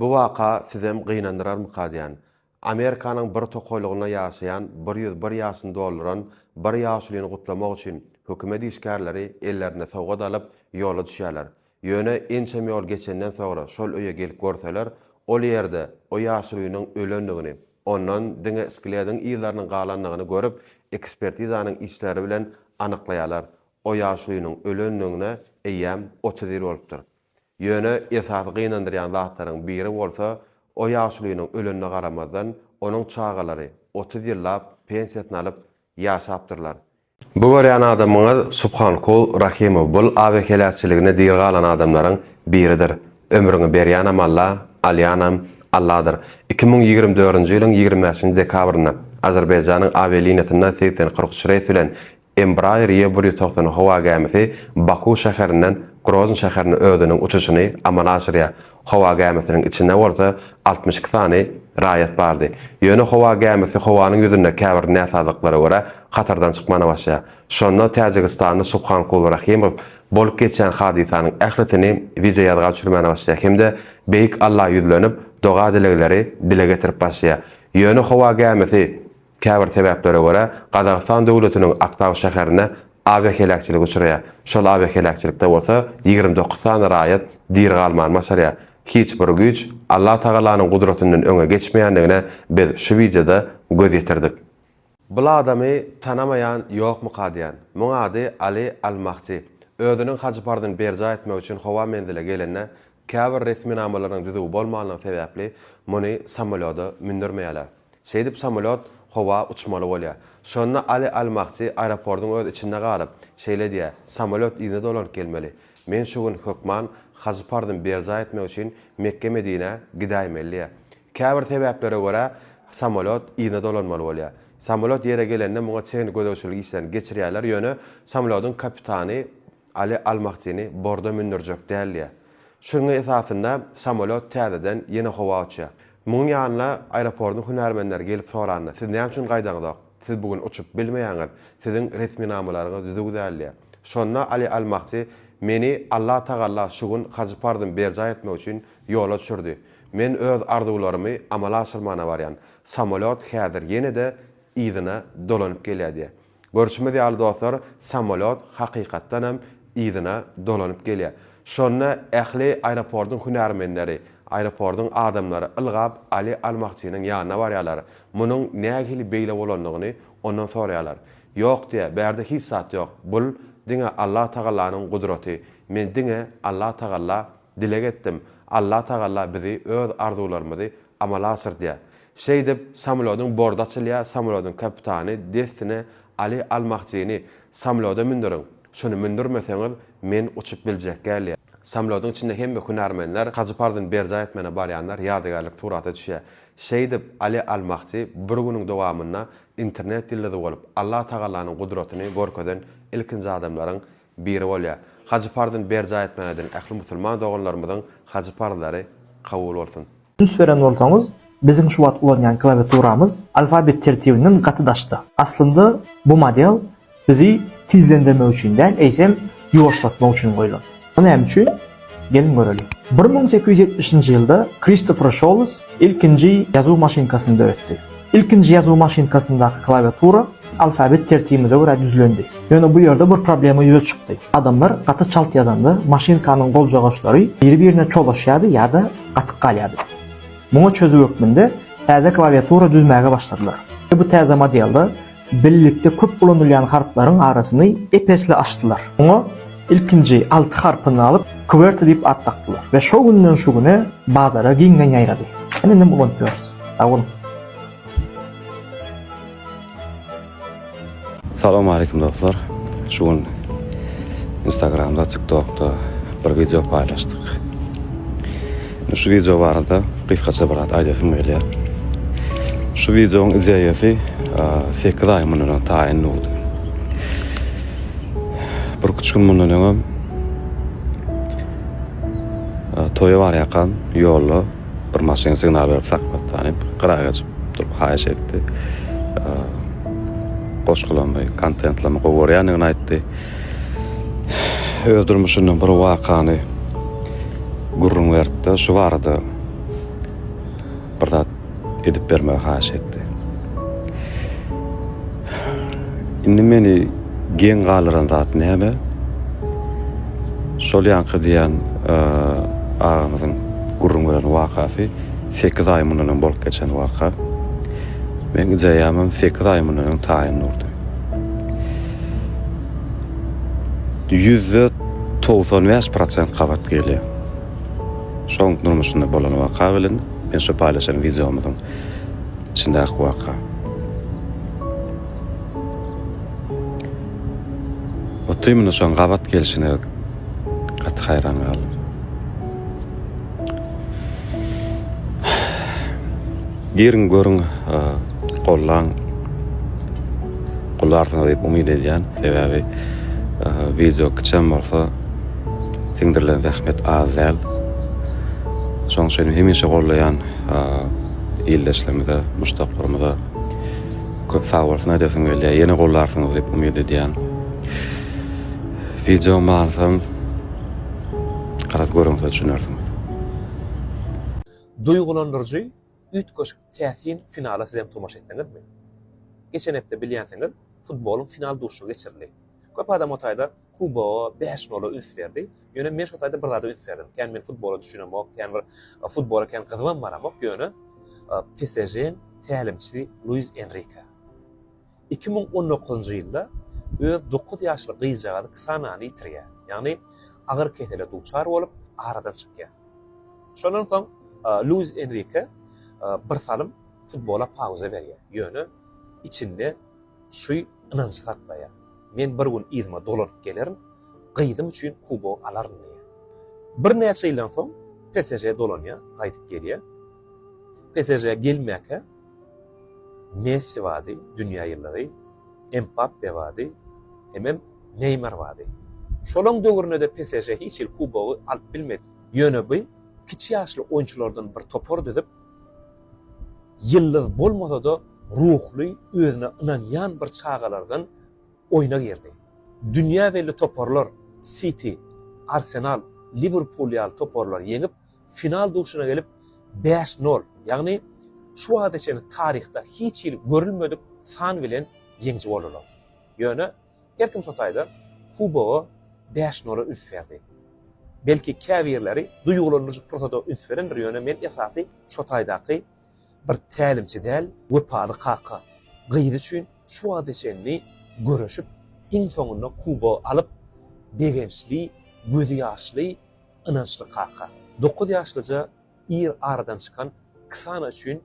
Bu waka sizem gynandyrarmykadýän. Amerikanyň bir tokaýlygynda ýaşaýan bir ýüz bir ýaşyny dolduran bir ýaşulyny gutlamak üçin hökümet işgärleri ellerine sowgat alyp ýola düşýärler. Ýöne ençem ýol geçenden soňra şol öýe gelip görseler, ol ýerde o ýaşulynyň ölendigini, ondan diňe sklediň yzlarynyň galandygyny görüp ekspertizanyň işleri bilen anyklaýarlar, o ýaşulynyň ölendigine eýýäm otuz ýyl bolupdyr. Ýöne esasy gynandyrýan zatlaryň biri bolsa, o ýaşulynyň ölenine garamazdan, onuň çagalary otuz ýyllap pensiýasyny alyp ýaşapdyrlar. Bu görýän adamyňyz Subhankul Rahimow bul abe heläkçiligine diri galan adamlaryň biridir. Ömrüňi berýänem Alla, alýanam Alladyr. Iki müň ýigrimi dördünji ýylyň ýigrimi bäşinji dekabrynda Azerbaýjanyň awialiniýasynda segsen kyrk üç reýs bilen Embraer YE bir ýüz togsan howa gämisi Baku şäherinden Grozny şäherine özüniň uçuşyny amala aşyrýar. Howa gämisiniň içinde bolsa altmyş iki sany raýat bardy. Ýöne howa gämisi howanyň ýüzünde käbir näsazlyklara görä hatardan çykmana başlaýar. Şonda täjigistanly Subhankuly Rahimow bolup geçýän hadysanyň ählisini wideoýazga düşürmäne başlaýar hem-de Beýik Alla ýüzlenip doga-dilegleri dile getirip başlaýar. Ýöne howa gämisi. Käbir sebäplere görä, Gazagystan döwletiniň Aktau şäherinde awiaheläkçilik uçraýar. Şol awiaheläkçilikde bolsa ýigrimi dokuz sany raýat diri galmany başarýar. Hiç bir güýç Allatagalanyň gudratyndan öňe geçmeýändigine biz şu wideoda göz ýetirdik. Bul adamy tanamaýan ýokmyka diýän. Muň ady Ali Al-Mahdi. Özüniň haj parzyny berjaý etmek üçin howa menzile gelende, käbir resminamalarynyň düzüwi bolmanlygy sebäpli, muny samolýoda mündürmeýärler. Şeýdip samolýot howa uçmaly bolýar. Şonda Ali al-Mahdi aeroportyň öz içinde galyp, şeýle diýýär, Samolýot yzyna dolanyp gelmeli. Men şu gün hökman hajy parzymy berjaý etmek üçin Mekge-Medinä gidäýmeli diýýär. Käbir sebäplere görä, samolýot yzyna dolanmaly bolýar. Samolýot ýere gelende muňa çenli gözegçilik işlerini geçirýärler, ýöne samolýodyň kapitany Ali Al-Mahdini borda mündürjek däldiýä. Şunuň esasynda samolýot täzeden ýene howa uçýar. Munuň ýanyna aeroportyň hünärmenleri gelip soranda, siz näme üçin gaýdaňyzok? Siz bu gün uçup bilmeýäňiz, siziň resminamalaryňyz düzüw däldiýä. Şonda Ali Al-Mahdi, Meni Allah Tagalla şu gün hajy parzym berjaý etmek üçin ýola düşürdi. Men öz arzuwlarymy amala aşyrmana barýan. Samolýot häzir ýene-de yzyna dolanyp gelýär diýýär. Görşümiz ýaly dostlar samolýot hakykatdan hem yzyna dolanyp gelýär. Şonda ähli aeroportyň hünärmenleri, aeroportyň adamlary ylgap Ali Al-Mahdinyň ýanyna barýarlar. Munuň nähili beýle bolandygyny ondan soraýarlar. Ýok diýýär, bärde hiç zat ýok. Bul diňe Alla Tagallanyň gudraty. Men diňe Alla Tagalla Dileg etdim, Allah Tagalla bizi öz arzuwlarymyzy amala aşyrdýa. Şeýdip, samolodyň bordy açylýa, samolodyň kapitany dessine Aly Al-Mahjini samoloda mündüriň, şuny mündürmeseňiz, men uçup biljek gälýä. Samolodyň içinde hemme hünärmenler hajy parzyny berjaý etmäne barýanlar ýadygärlik surata düşýä. Şeýdip, Aly Al-Mahji bir günüň dowamynda internet ýyldyzy bolup, Allah Tagallanyň gudratyny görkezen ilkinji adamlaryň biri bolýar. Hajy parzyny berjaý etmek ediň. Ähli musulman doganlarymyzyň hajy parzlary kabul bolsun. Üns beren bolsaňyz, biziň şu wagt ulanýan klawiaturamyz alfabet tertibinden gaty daşda. Aslynda bu model bizi tizlendirmek üçin däl, eýsem ýuwaşlatmak üçin goýlan. Bu näme üçin? Geliň göreliň. Bir müň sekiz ýüz ýetmişinji ýylda Kristofer Şolles ilkinji ýazuw maşynkasyny döretdi. Ilkinji ýazuw maşynkasyndaky klawiatura alfabet tertibimize görä düzülendi. Ýöne bu ýerde bir problema ýüze çykdy. Adamlar gaty çalt ýazanda, maşynkanyň goljagaçlary biri-birine çolaşýardy ýa-da gatyk galýardy. Muňa çözüw hökmünde täze klawiatura düzmäge başladylar we bu täze modelde Birlikde köp ulanylýan harplaryň arasyny ep-esli açdylar. Oňa ilkinji alty harpyny alyp, QWERTY diýip at dakdylar we şo günden şu güne bazara giňden ýaýrady. Ine indem ulanyp ýörüs. Sag boluň! Salam aleýkum dostlar. Şu gün Instagramda, TikTokda bir wideo paýlaşdyk. Şu wideo barada gysgaça bir zat aýdasym gelýär. Şu wideoň ideýasy sekiz aý mundan öň taýyn boldy. Bir üç gün mundan öňem toýa barýarkan ýolda bir maşyn signal berip saklatdy, diýip, gyra geçip durup haýyş etdi. Goşgulamy, kontentlamy gowy görýändigini aýtdy. öz durmuşyndan bir wakany gürrüň berdi-de, şu barada bir zat edip bermegi haýyş etdi. Indi meni geň galdyran zat näme? Şol ýanky diýen e, agamyzyň gürrüň beren wakasy 8 aý mundan öň bolup geçen waka. Men gijäýemem 8 aý mundan öň taýyn durdy. Ýüzde togsan bäş prosent gabat gelýär. Şoň durmuşynda bolan waka bilen men şu paýlaşan wideomyzyň içindäki waka. Otymyna şoň gabat gelşine gaty haýran galdym. Giriň görüň gollaň gollarsyňyz diýip umyt edýän sebäbi wideo kiçem bolsa siňdirilen zähmet az däl şoň üçin hemişe gollaýan ildeşlerimize muşdaklarymyza köp sag bolsun aýdasyň gelýär ýene gollarsyňyz diýip umyt edýän wideo manysyny garaz görüňiz düşünersiňiz. Duýgulandyryjy, üýtgeşik, täsin finala sizem tomaşa etdiňizmi? Geçen hepde bilýänsiňiz, futbolyň final duşuşygy geçirildi. Köp adam o taýda kuboga, bäş nola üns berdi. Ýöne men şo taýda bir zada üns berdim. Kän men futbola düşünemok, kän bir futbola kän gyzybam baramok, ýöne PSJ-niň tälimçisi Luis Enrike. Iki müň on dokuzynjy ýylda öz dokuz ýaşly gyzjagazy Ksanany ýitirýär, ýagny agyr kesele duçar bolup, aradan çykýar. Şondan soň Luis Enrike birsalym futbola pauza berýär, ýöne içinde şu ynanjy saklaýar, Men bir gün yzyma dolanyp gelerin, gyzym üçin kubogy alaryn diýýär. Birnäçe ýyldan soň PSŽ-e dolanýar, gaýdyp gelýär. PSŽ-e gelmäkä, Messi bardy, dünýä ýyldyzy, Mbappe bardy, hemem Neýmar bardy. Şolaň döwründe-de PSŽ hiç hili kubogy alyp bilmedi. Ýöne bu kiçi ýaşly oýunçylardan bir topar düzüp, ýyldyz bolmasa-da ruhly, özüne ynanýan bir çagalardan oýna girdi. Dünýä belli toparlar Siti, Arsenal, Liwerpul ýaly toparlary ýeňip, Final duşuna gelip bäş nol, ýagny şu wagta çenli taryhda hiç hili görülmedik san bilen ýeňiji boldular. Ýöne her kim şo taýda kubogy bäş nola üns berdi. Belki käbirleri duýgulandyryjy pursada üns berendir, ýöne men esasy şo taýdaky bir tälimçi däl, wepaly kaka gyz üçin şu wagta çenli göreşip iň soňunda kubogy alyp begençli, gözýaşly Ynançly kaka. Dokuz ýaşlyja ir aradan çykan Ksana üçin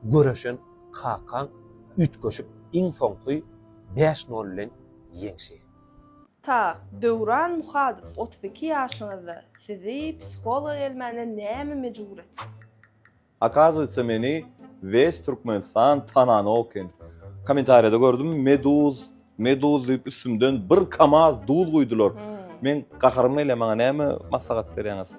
göreşen kakaň üýtgeşik iň soňky bäş nol bilen ýeňşi. Tak, Döwran Muhadow otuz iki ýaşyňyzda sizi psihologa gelmäne näme mejbur etdi? Akazuýtsa meni wes Türkmenistan tananok eken. Komentariýada gördüm meduz meduz diýip üstümden bir kamaz duz guýdular. Meň gaharym gelýär maňa näme maslahat berýäňiz.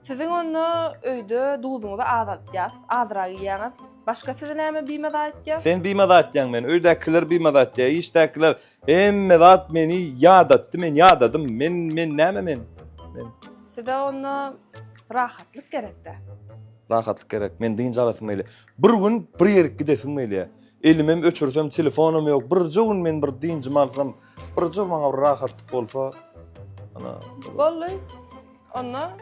Siziň onda öýde duzuňyzy azaltýas, azrak iýýäňiz. Başga sizi näme bimaza etýär? Sen bimaza etýäň meni, öýdäkiler bimaza etýär, işdäkiler. Hemme zat meni ýadatdy, men ýadadym. Men, men näme men? Men. Size onda rahatlyk gerekde. Rahatlyk gerek. Men dynç alasym gelýär. Bir gün bir ýerik gidesim gelýär. Elimem öçürsem, telefonym ýok. Birje gün men bir dynjymy alsam, birje maňa bir rahatlyk bolsa. Ana. Bolly. Onda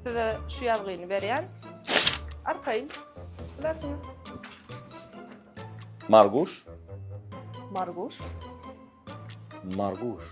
size şu ýazgyny berýän. Arkaýyn. Bilersiňiz. Marguş. Marguş. Marguş.